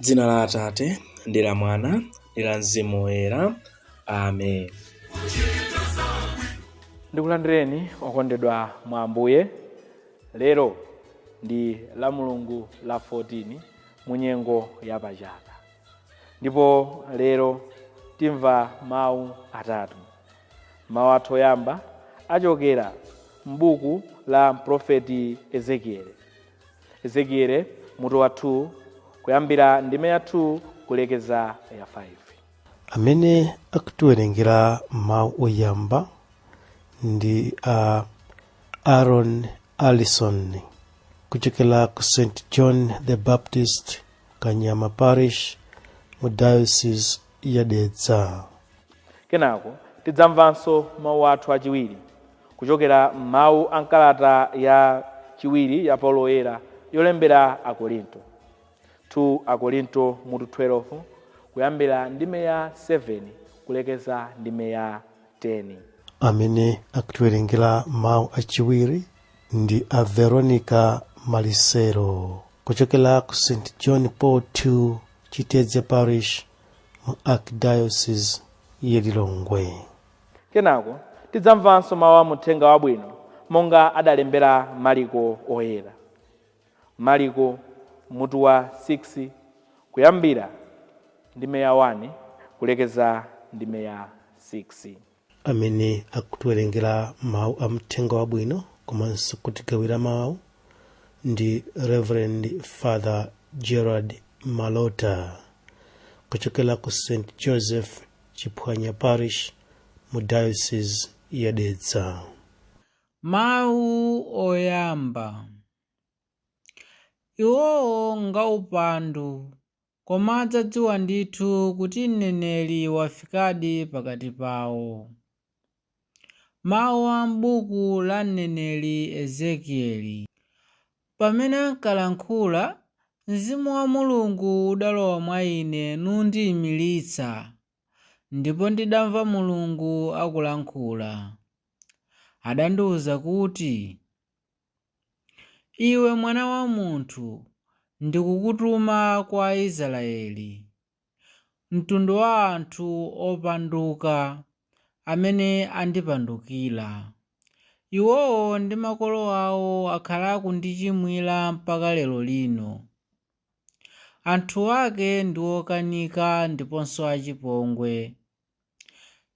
Dzina la Atate, ndi la Mwana, ndi la Mzimu Woyera. Amen. ndikulandireni okondedwa mwa ambuye lero ndi la mulungu la 14 mu nyengo ya pachaka ndipo lero timva mawu atatu mawu athu oyamba achokera m'buku la mprofeti ezekieli Ezekiele mutu wa 2 kuyambira ndime ya 2 kulekeza ya 5 amene akutiwerengera mawu oyamba ndi a aaron allison kuchokera ku st john the baptist kanyama parish mu diocese ya Dedza. Kenako tidzamvanso mawu athu achiwiri kuchokera m'mawu a m'kalata ya chiwiri ya Paulo Woyera yolembera Akorinto, 2 Akorinto mutu 12 kuyambira ndime ya 7 kulekeza ndime ya 10. Amene akutiwerengera mawu achiwiri ndi a Veronica Malisero kuchokera ku St John Paul 2 Chitedze Parish mu Archdiocese ya Lilongwe. Kenako tidzamvanso mawu a m'Uthenga Wabwino monga adalembera Maliko Oyera. Maliko mutu wa 6 kuyambira ndime ya 1 kulekeza ndime ya 6. amene akutiwerengera mawu a mthenga wabwino komanso kutigawira mawu ndi reverend father gerard malota kuchokera ku st joseph chiphwanya parish mu diocese ya dedza mawu oyamba iwowo ngaupandu Koma adzadziwa ndithu kuti mneneri wafikadi pakati pawo. Mawu a m'buku la mneneri Ezekieli Pamene ankalankhula, Mzimu wa Mulungu udalowa mwa ine nundiimiritsa, ndipo ndidamva Mulungu akulankhula. Adandiwuza kuti. Iwe mwana wa munthu, ndikukutuma kwa Aisraeli, mtundu wa anthu opanduka amene andipandukira. Iwowo ndi makolo awo akhala akundichimwira mpaka lero lino. Anthu ake ndi okanika ndiponso achipongwe.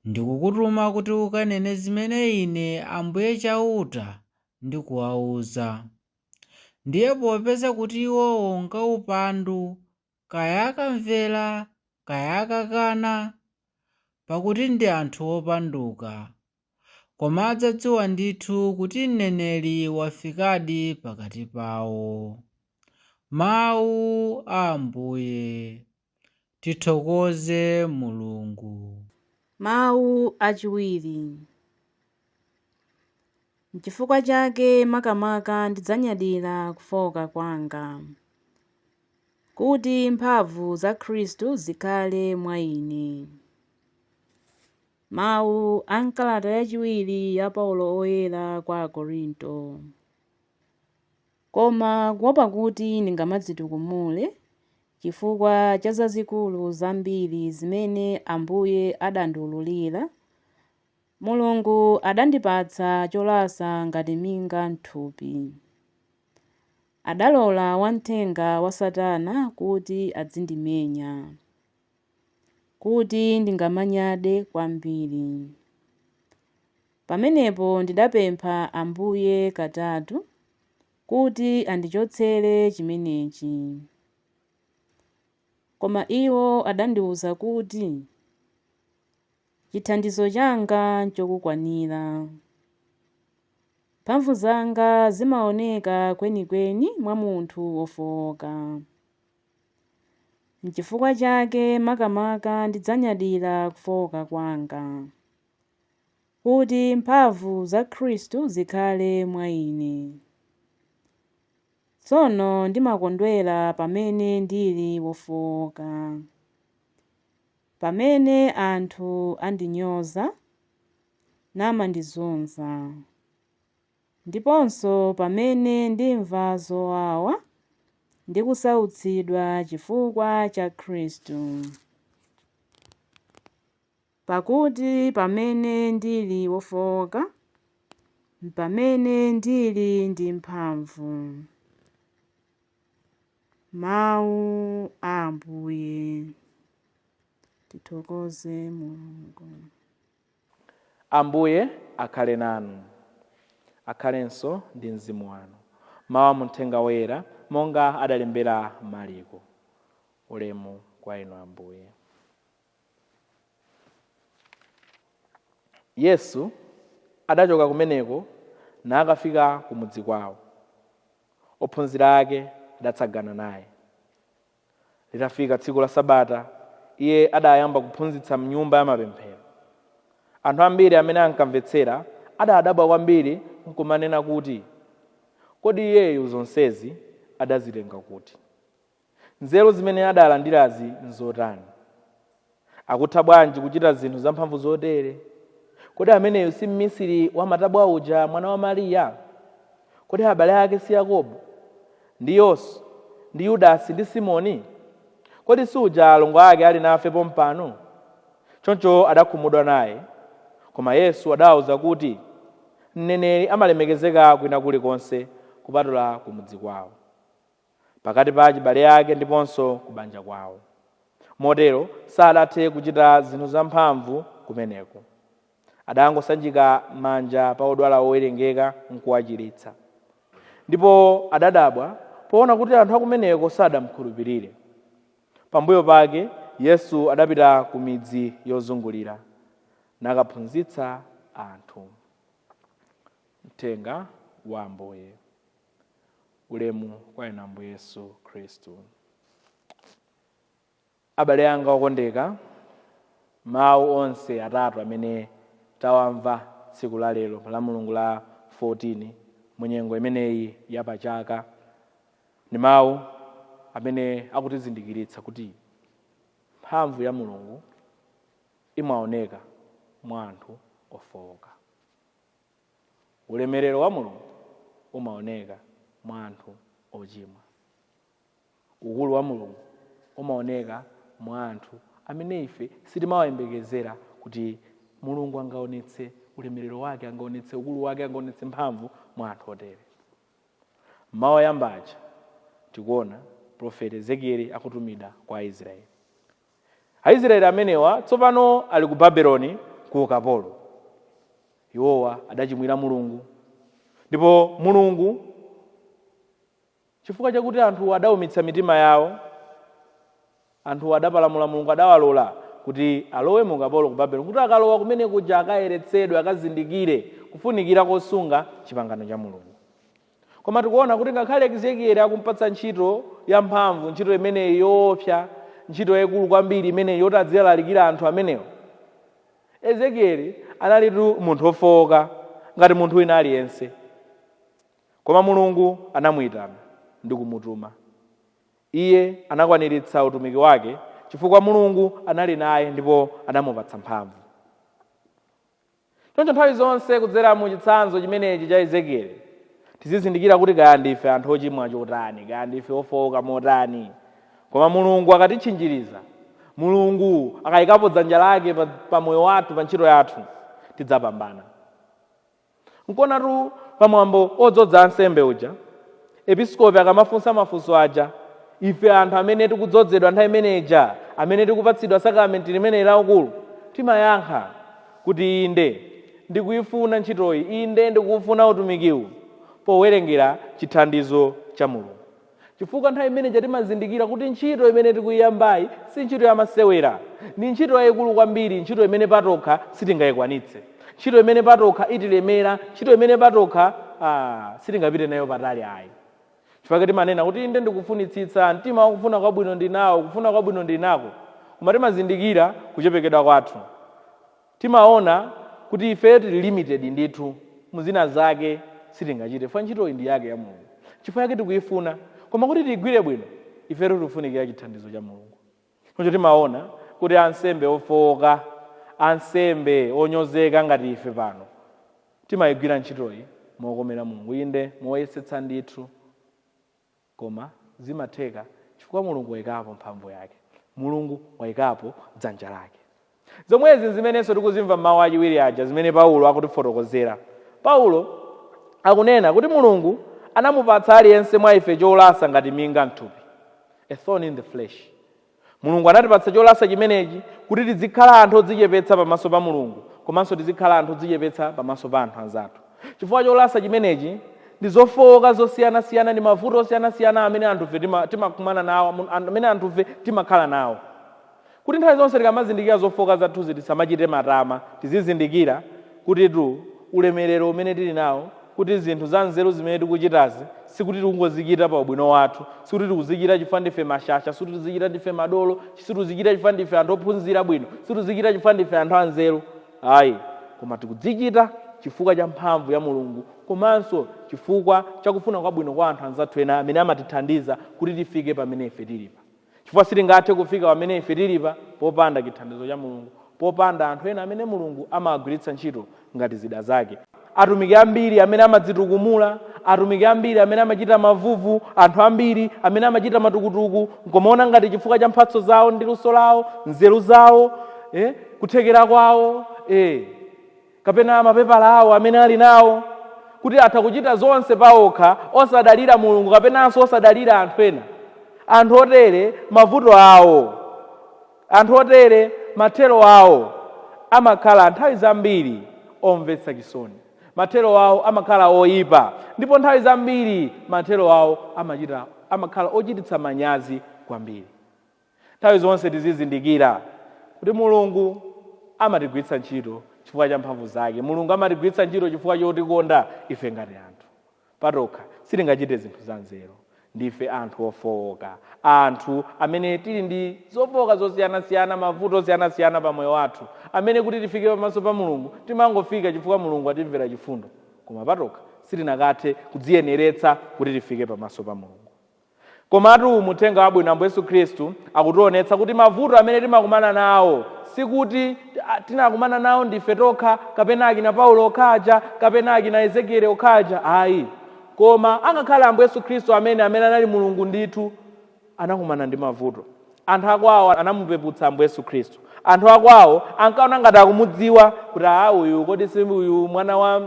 Ndikukutuma kuti ukanene zimene Ine Ambuye Chauta ndikuwauza. Ndiye popeza kuti iwowo ngaupandu, kaya akamvera, kaya akakana, pakuti ndi anthu opanduka, Koma adzadziwa ndithu kuti mneneri wafikadi pakati pawo. Mawu a Ambuye. Tithokoze Mulungu. Mawu achiwiri. Nchifukwa chake makamaka ndidzanyadira kufooka kwanga, kuti mphamvu za Khristu zikhale mwa ine. Mawu a m'kalata yachiwiri ya Paulo Woyera kwa Akorinto, Koma kuwopa kuti ndingamadzitukumule chifukwa cha zazikulu zambiri zimene Ambuye adandiwululira, Mulungu adandipatsa cholasa ngati minga m'thupi. Adalola wamthenga wa Satana kuti adzindimenya. kuti ndingamanyade kwambiri. Pamenepo ndidapempha Ambuye katatu kuti andichotsere chimenechi. Koma iwo adandiwuza kuti, Chithandizo changa nchokukwanira. Mphamvu zanga zimaoneka kwenikweni mwa munthu wofooka. Nchifukwa chake makamaka ndidzanyadira kufooka kwanga, kuti mphamvu za Khristu zikhale mwa ine. Tsono ndimakondwera pamene ndili wofooka, pamene anthu andinyoza namandizunza. Ndiponso pamene ndimva zowawa ndi kusautsidwa chifukwa cha Khristu. Pakuti pamene ndili wofooka, m'pamene ndili ndi mphamvu. Mawu a Ambuye. Tithokoze Mulungu. Ambuye akhale nanu. Akhalenso ndi mzimu wanu. Mawu a mu Mthenga Woyera monga adalembera Maliko. Ulemu kwa inu Ambuye. Yesu adachoka kumeneko nakafika kumudzi kwawo. Ophunzira ake adatsagana naye. Litafika tsiku la Sabata, iye adayamba kuphunzitsa m'nyumba ya mapemphero. Anthu ambiri amene ankamvetsera adadabwa kwambiri nkumanena kuti, Kodi iyeyu zonsezi adazitenga kuti? Nzeru zimene adalandirazi nzotani? Akutha bwanji kuchita zinthu zamphamvu zotere? Kodi ameneyu si mmisiri wa matabwa uja, mwana wa Mariya? Kodi abale ake si Yakobo, ndi Yose, ndi Yudasi, ndi Simoni? Kodi si uja alongo ake ali nafe pompano? Choncho adakhumudwa naye. Koma Yesu adawauza kuti, Mneneri amalemekezeka kwina kulikonse kupatula kumudzi kwao. pakati pa achibale ake ndiponso kubanja kwawo. Motero sadathe kuchita zinthu zamphamvu kumeneko. Adangosanjika manja pa odwala owerengeka nkuwachiritsa. Ndipo adadabwa poona kuti anthu akumeneko sadamkhulupirire. Pambuyo pake Yesu adapita ku midzi yozungulira, nakaphunzitsa anthu. Mthenga wa Ambuye. ulemu kwa inu ambuye yesu khristu abale anga okondeka mawu onse atatu amene tawamva tsiku la lero la mulungu la 14 mu nyengo imeneyi ya pachaka ni mawu amene akutizindikiritsa kuti mphamvu ya mulungu imaoneka mwa anthu ofowoka Ulemerero wa Mulungu umaoneka mwa anthu ochimwa. Ukulu wa Mulungu umaoneka mwa anthu amene ife sitimawayembekezera kuti Mulungu angaonetse ulemerero wake, angaonetse ukulu wake, angaonetse mphamvu mwa anthu otere. Mawu oyamba aja tikuona profeti Ezekieli akutumidwa kwa Aisraeli. Aisraeli amenewa tsopano ali ku Babeloni ku ukapolo. Iwowa adachimwira Mulungu, ndipo Mulungu chifukwa chakuti anthu adaumitsa mitima yawo, anthu adapalamula Mulungu, adawalola kuti alowe mu ukapolo ku Babeloni, kuti akalowa kumene kuja akayeretsedwe, akazindikire kufunikira kosunga chipangano cha Mulungu. koma tikuona kuti ngakhale ezekieli akumpatsa ntchito yamphamvu ntchito imeneyi yoopsa ntchito yaikulu kwambiri imeneyi yoti adzilalikira anthu amenewo ezekieli analitu munthu wofowoka ngati munthu wina aliyense koma mulungu anamuyitana ndi kumutuma iye anakwaniritsa utumiki wake chifukwa mulungu anali naye ndipo anamupatsa mphamvu Choncho nthawi zonse kudzera mu chitsanzo chimenechi cha Ezekieli, tizizindikira kuti kaya ndife anthu ochimwa chotani, kaya ndife ofooka motani, koma Mulungu akatitchinjiriza, Mulungu akayikapo dzanja lake pa, pa moyo wathu, pa ntchito yathu, tidzapambana. Nkuonatu pa mwambo odzodza ansembe uja, Episkopi akamafunsa mafunso aja, ife anthu amene tikudzodzedwa nthawi imene ija, amene tikupatsidwa sakalamenti limeneli la ukulu, timayankha kuti, Inde, ndikuifuna ntchitoyi. Inde, ndikuufuna utumikiwu, powerengera chithandizo cha Mulungu. Chifukwa nthawi imene ija timazindikira kuti ntchito imene tikuiyambayi si ntchito yamasewera. Ndi ntchito yaikulu kwambiri, ntchito imene patokha sitingaikwanitse. ntchito imene patokha itilemera ntchito imene patokha ah, sitingapite nayo patali ayi chifukwa timanena kuti inde ndikufunitsitsa mtima wakufuna kwabwino ndinawo kufuna kwabwino ndinako koma timazindikira kuchepekedwa kwathu timaona kuti ifeyo tili limited ndithu muzina zake sitingachite chifukwa ntchitoyi ndi yake ya mulungu chifukwa yake tikuyifuna koma kuti tiyigwire bwino ifeyo tikufunikira chithandizo cha mulungu choncho timaona kuti ansembe ofowoka ansembe onyozeka ngati ife pano timayigwira ntchitoyi mokomera mulungu inde moyesetsa ndithu koma zimatheka chifukwa mulungu wayikapo mphamvu yake mulungu wayikapo dzanja lake Zomwezi n'zimenenso tikuzimva m'mawu achiwiri aja zimene Paulo akutifotokozera. Paulo akunena kuti Mulungu anamupatsa aliyense mwa ife cholasa ngati minga m'thupi, a thorn in the flesh. Mulungu anatipatsa cholasa chimenechi kuti tidzikhala anthu odzichepetsa pamaso pa Mulungu komanso tizikhala anthu odzichepetsa pamaso pa anthu anzathu. Chifukwa cholasa chimenechi ndi zofowoka zosiyanasiyana ndi mavuto osiyanasiyana amene anthufe timakumana nawo, amene anthufe timakhala nawo. kuti nthawi zonse tikamazindikira zofooka zathuzi tisamachite matama. Tizizindikira kutitu ulemerero umene tili nawo, kuti zinthu zanzeru zimene tikuchitazi sikuti tikungozichita pa ubwino wathu, sikuti tikuzichita chifukwa ndife mashasha, sikuti tikuzichita ndife madolo, sitikuzichita chifukwa ndife anthu ophunzira bwino, sitikuzichita chifukwa ndife anthu anzeru ayi, koma tikuzichita chifukwa cha mphamvu ya Mulungu komanso chifukwa cha kufuna kwabwino kwa anthu anzathu ena amene amatithandiza kuti tifike pamene ife tilipa. Chifukwa sitingathe kufika pamene ife tilipa popanda chithandizo cha Mulungu, popanda anthu ena amene Mulungu amawagwiritsa ntchito ngati zida zake. Atumiki ambiri amene amadzitukumula, atumiki ambiri amene amachita mavuvu, anthu ambiri amene amachita matukutuku, nkomaona ngati chifukwa cha mphatso zawo ndi luso lawo, nzeru zawo, eh, kuthekera kwawo, eh, kapena mapepala awo amene ali nawo kuti atha kuchita zonse paokha osadalira mulungu kapenanso osadalira anthu ena anthu otere mavuto awo anthu otere mathero awo amakhala nthawi zambiri omvetsa chisoni mathero awo amakhala oyipa ndipo nthawi zambiri mathero awo amakhala ochititsa manyazi kwambiri Nthawi zonse tizizindikira kuti Mulungu amatigwiritsa ntchito chifukwa cha mphamvu zake. Mulungu amatigwiritsa ntchito chifukwa chotikonda. Ife ngati anthu patokha sitingachite zinthu zanzeru. Ndife anthu ofooka, anthu amene tili ndi zofooka zosiyanasiyana, mavuto osiyanasiyana pa moyo wathu, amene kuti tifike pamaso pa Mulungu timangofika chifukwa Mulungu watimvera chifundo. Koma patokha sitinakathe kudziyeneretsa kuti tifike pamaso pa Mulungu. Komatu mu uthenga wabwino Ambuye Yesu Khristu akutionetsa kuti mavuto amene timakumana nawo sikuti ah, tinakumana nawo ndife tokha kapena akina Paulo okha aja kapena akina Ezekieli okha aja ayi koma angakhale Ambuye Yesu Khristu amene amene anali Mulungu ndithu anakumana ndi mavuto Anthu a kwawo anamupeputsa Ambuye Yesu Khristu. Anthu a kwawo ankaona ngati akumudziwa kuti aa uyu kodi si uyu mwana wa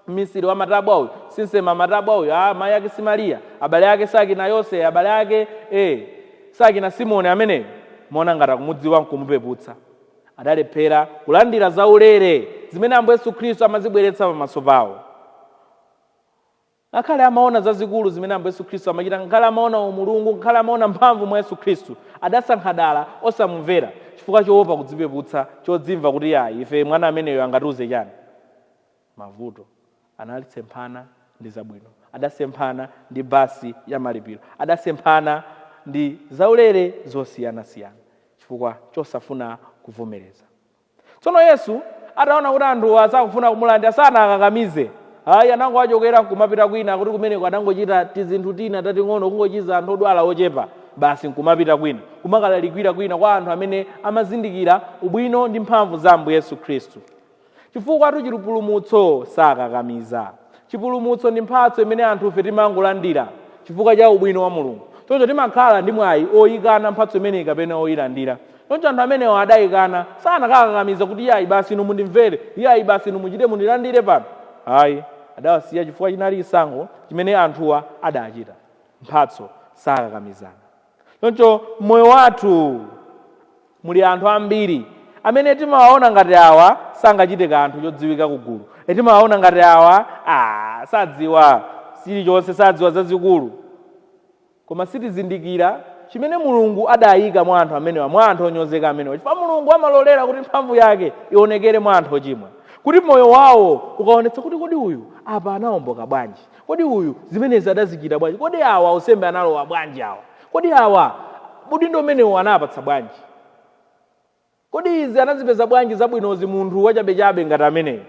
mmisiri wa matabwa uyu, si nsema matabwa uyu, aa mayi ake si Mariya, abale ake sakina Yose, abale ake eh sakina Simoni ameneyo. Amaona ngati akumudziwa nkumupeputsa. Adalephera kulandira zaulere zimene Ambuye Yesu Khristu amazibweretsa pamaso pawo. Ngakhale amaona zazikulu zimene Ambuye Yesu Khristu amachita, ngakhale amaona Umulungu, ngakhale amaona mphamvu mwa Yesu Khristu, adasankha dala osamumvera chifukwa choopa kudzipeputsa, chodzimva kuti aa, ife mwana ameneyo angatiuze chani? Mavuto anali. Anasemphana ndi zabwino. Adasemphana ndi bus ya malipiro. Adasemphana ndi zaulere zosiyanasiyana chifukwa chosafuna kuvomereza. Tsono Yesu ataona kuti anthuwa sakufuna kumulandira sanawakakamize ayi, anangowachokera nkumapita kwina, kuti kumeneko adangochita tizinthu tina tating'ono, kungochiza anthu odwala ochepa basi nkumapita kwina, kumakalalikira kwina kwa anthu amene amazindikira ubwino ndi mphamvu za Ambuye Yesu Khristu. Chifukwatu chipulumutso sakakamiza. Chipulumutso ndi mphatso imene anthufe timangolandira chifukwa cha ubwino wa Mulungu. Choncho timakhala ndi mwayi oyikana mphatso imeneyi kapena oyilandira. Choncho anthu amenewa adaikana. Sanakawakakamiza kuti, Iyai, basi inu mundimvere. Iyai, basi inu muchite mundilandire pano. Ayi. Adawasiya chifukwa chinali chisankho chimene anthuwa adachita. Mphatso sakakamizana. Choncho m'moyo wathu muli anthu ambiri amene timawaona ngati awa sangachite kanthu chodziwika ku gulu. E, timawaona ngati awa, ah, sadziwa chilichonse, sadziwa zazikulu. Koma sitizindikira chimene Mulungu adaika mwa anthu amenewa, mwa anthu onyozeka amenewa, chifukwa Mulungu amalolera kuti mphamvu yake ionekere mwa anthu ochimwa, kuti moyo wawo ukaonetsa kuti kodi uyu apa anaomboka bwanji, kodi uyu zimenezi adazichita bwanji, kodi awa usembe analowa bwanji awa, kodi awa udindo umenewu anawapatsa bwanji. Kodi izi anazipeza bwanji zabwinozi munthu wachabechabe ngati ameneyu?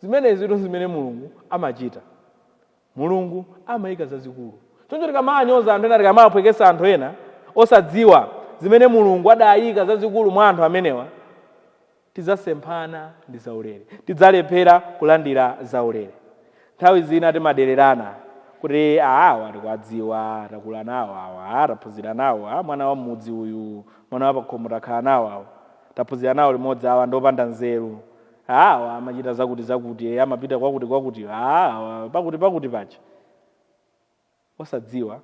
Zimenezitu n'zimene Mulungu amachita. Mulungu amaika zazikulu. Choncho tikamanyoza anthu ena, tikamawaphwekesa anthu ena, osadziwa zimene Mulungu adaika zazikulu mwa anthu amenewa, tidzasemphana ndi zaulere. Tidzalephera kulandira zaulere. Nthawi zina timadererana kuti "Ah, awa tikuwadziwa takula nawo awa ah, taphunzira nawo ah, mwana wa m'mudzi uyu mwana wa pakhomo takhala nawo awa taphunzira nawo limodzi awa ndi opanda nzeru Ah, awa amachita zakuti zakuti eh, amapita kwakuti kwakuti ah, awa pakuti pakuti paja osadziwa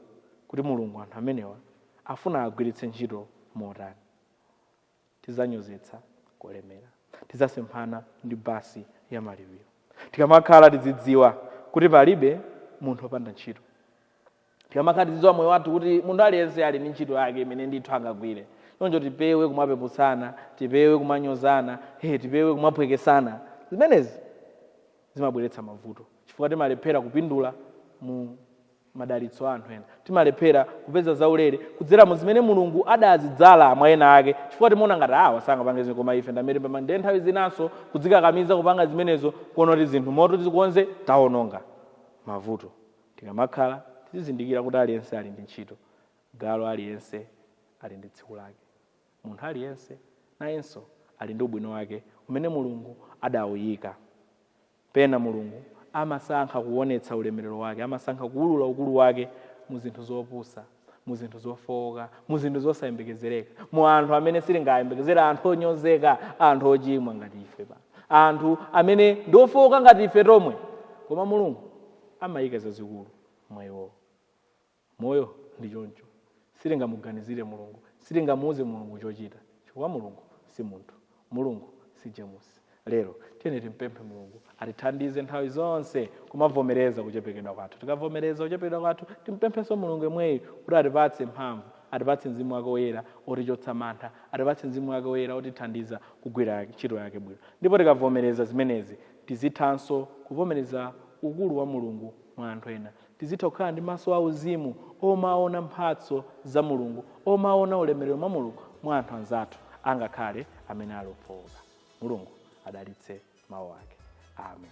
kuti mulungu anthu amenewa afuna agwiritse ntchito motani tidzanyozetsa kulemera. Tidzasemphana ndi basi ya malipiro. Tikamakhala tidzidziwa kuti palibe munthu opanda ntchito. Tikamakhala tidzidziwa moyo wathu kuti munthu aliyense ali ndi ntchito yake imene ndithu angagwire. Choncho tipewe kumapeputsana, tipewe kumanyozana, tipewe kumaphwekesana. Zimenezi zimabweretsa mavuto chifukwa timalephera kupindula mu madalitso a anthu ena timalephera kupeza zaulere kudzera mu zimene mulungu adazidzala mwa ena ake chifukwa timaona ngati awa sangapange zinthu koma ife ndamene pama ndiye nthawi zinanso kudzikakamiza kupanga zimenezo kuona kuti zinthu moto tizikonze taononga mavuto tikamakhala tizizindikira kuti aliyense ali ndi ntchito galu aliyense ali ndi tsiku lake munthu aliyense nayenso ali ndi ubwino wake umene mulungu adawuyika Pena Mulungu amasankha kuwonetsa ulemerero Wake, amasankha kuwulula ukulu Wake mu zinthu zopusa, mu zinthu zofooka, mu zinthu zosayembekezereka, mu anthu amene sitingayembekezere, anthu onyozeka, anthu ochimwa ngati ife pano, anthu amene ndi ofooka ngati ife tomwe, koma Mulungu amayika zazikulu mwa iwowo. Moyo ndi choncho. Sitingamuganizire Mulungu. Sitingamuuze Mulungu chochita. Chifukwa Mulungu si munthu. Mulungu si Jemusi. Lero, tiyeni timpemphe Mulungu atithandize nthawi zonse kumavomereza kuchepekedwa kwathu. Tikavomereza kuchepekedwa kwathu, timpemphenso Mulungu yemweyu kuti atipatse mphamvu, atipatse Mzimu wake Woyera otichotsa mantha, atipatse Mzimu wake Woyera otithandiza kugwira ntchito yake bwino. Ndipo tikavomereza zimenezi, tizithanso kuvomereza ukulu wa Mulungu mwa anthu ena. Tizitha kukhala ndi maso a uzimu omaona mphatso za Mulungu, omaona ulemerero mwa Mulungu mwa anthu anzathu angakhale amene ali ofooka. Mulungu adalitse mawu ake. Amen.